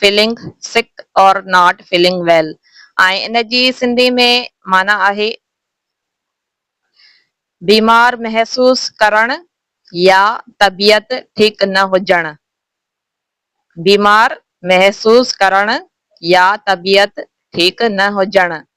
Feeling sick or not feeling well ۽ ان جي سنڌي ۾ معنيٰ آهي بيمار محسوس ڪرڻ يا طبيعت ٺيڪ نه هجڻ بيمار محسوس ڪرڻ يا طبيعت ٺيڪ نه هجڻ.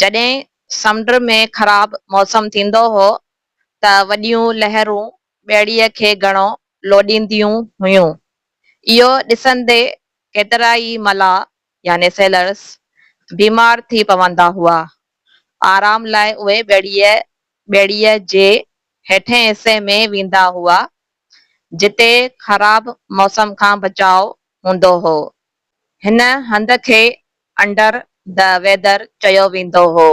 جڏهن سمنڊ ۾ خراب موسم ٿيندو هو ته وڏيون لهرون ٻيڙيء کي گهڻو لوڏينديون هيون. اهو ڏسندي ڪيترائي ملاح يعني سيلرز بيمار ٿي پوندا هئا. آرام لاء اهي ٻيڙيء ٻيڙيء جي هيٺئين حصي ۾ ويندا هئا، جتي خراب موسم کان بچاء هوندو هو. هن هنڌ کي انڊر دي ويدر چيو ويندو هو.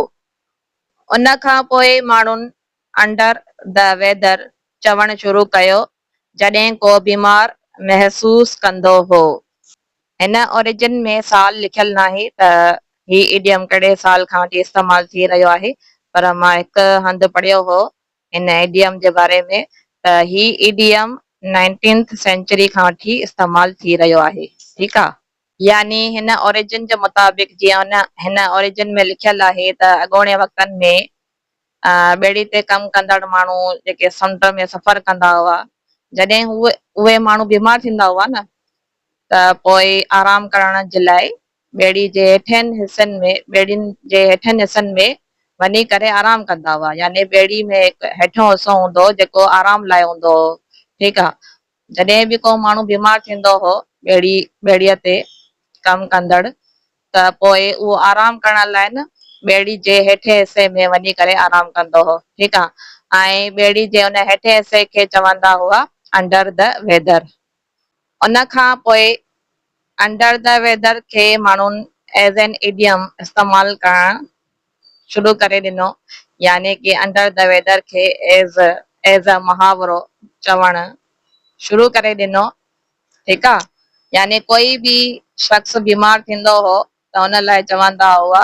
ان کان پوء ماڻهن انڊر دي ويدر چوڻ شروع ڪيو جڏهن ڪو بيمار محسوس ڪندو هو. هن اوريجن ۾ سال لکيل ناهي ته هي ايڊيم ڪهڙي سال کان وٺي استعمال ٿي رهيو آهي پر مان هڪ هنڌ پڙهيو هو هن ايڊيم جي باري ۾ ته هي ايڊيم نائنٽينٿ سينچري کان وٺي استعمال ٿي رهيو آهي ٺيڪ آ. يعني هن اوريجن جي مطابق جيئن هن اوريجن ۾ لکيل آهي ته اڳوڻي وقتن ۾ ٻيڙي تي ڪم ڪندڙ ماڻهو جيڪي سمنڊ ۾ سفر ڪندا هئا جڏهن هو اهي ماڻهو بيمار ٿيندا هئا نه ته پوء آرام ڪرڻ جي لاء ٻيڙي جي هيٺين حصن ۾ ٻيڙين جي هيٺين حصن ۾ وڃي ڪري آرام ڪندا هئا يعني ٻيڙي ۾ هڪ هيٺيون حصو هوندو هو جيڪو آرام لاء هوندو هو ٺيڪ آ جڏهن به ڪو ماڻهو بيمار ٿيندو هو ٻيڙي ٻيڙي تي ڪم ڪندڙ ته پوء اهو آرام ڪرڻ لاء نه ٻيڙي جي هيٺين حصي ۾ وڃي ڪري آرام ڪندو هو ٺيڪ آ ۽ ٻيڙي جي ان هيٺين حصي کي چوندا هئا انڊر دي ويدر. ان کان پوء انڊر دي ويدر کي ماڻهن ايز اين ايڊيم استعمال ڪرڻ شروع ڪري ڏنو يعني ڪي انڊر دي ويدر کي ايز ايز اي محاورو چوڻ شروع ڪري ڏنو ٺيڪ آ يعني ڪوئي به شخص بيمار ٿيندو هو ته ان لاء چوندا هئا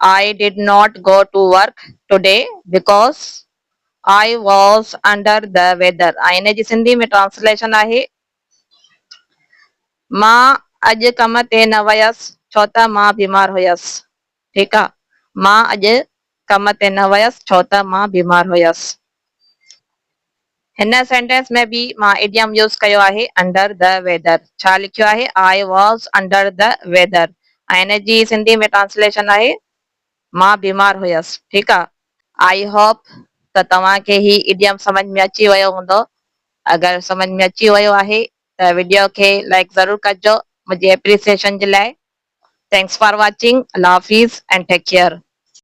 I did not go to work today because I was under the weather ۽ ان جي سنڌي ۾ ٽرانسليشن آهي، مان اڄ ڪم تي نه ويس ڇو ته مان بيمار هيس. ٺيڪ آ. مان اڄ ڪم تي نه ويس ڇو ته مان بيمار هيس. هن سينٽينس ۾ به مان ايڊيم يوز ڪيو آهي انڊر دي ويدر ڇا لکيو آهي I was under the weather ۽ ان جي سنڌي ۾ ٽرانسليشن آهي مان بيمار هيس ٺيڪ آ آئي هوپ ته توهان کي هي ايڊيم سمجھ ۾ اچي ويو هوندو اگر سمجھ ۾ اچي ويو آهي ته وڊيو کي لائڪ ضرور ڪجو منهنجي اپريسيشن جي لاء ٿينڪس فار واچنگ الله حافظ اينڊ ٽيڪ ڪيئر.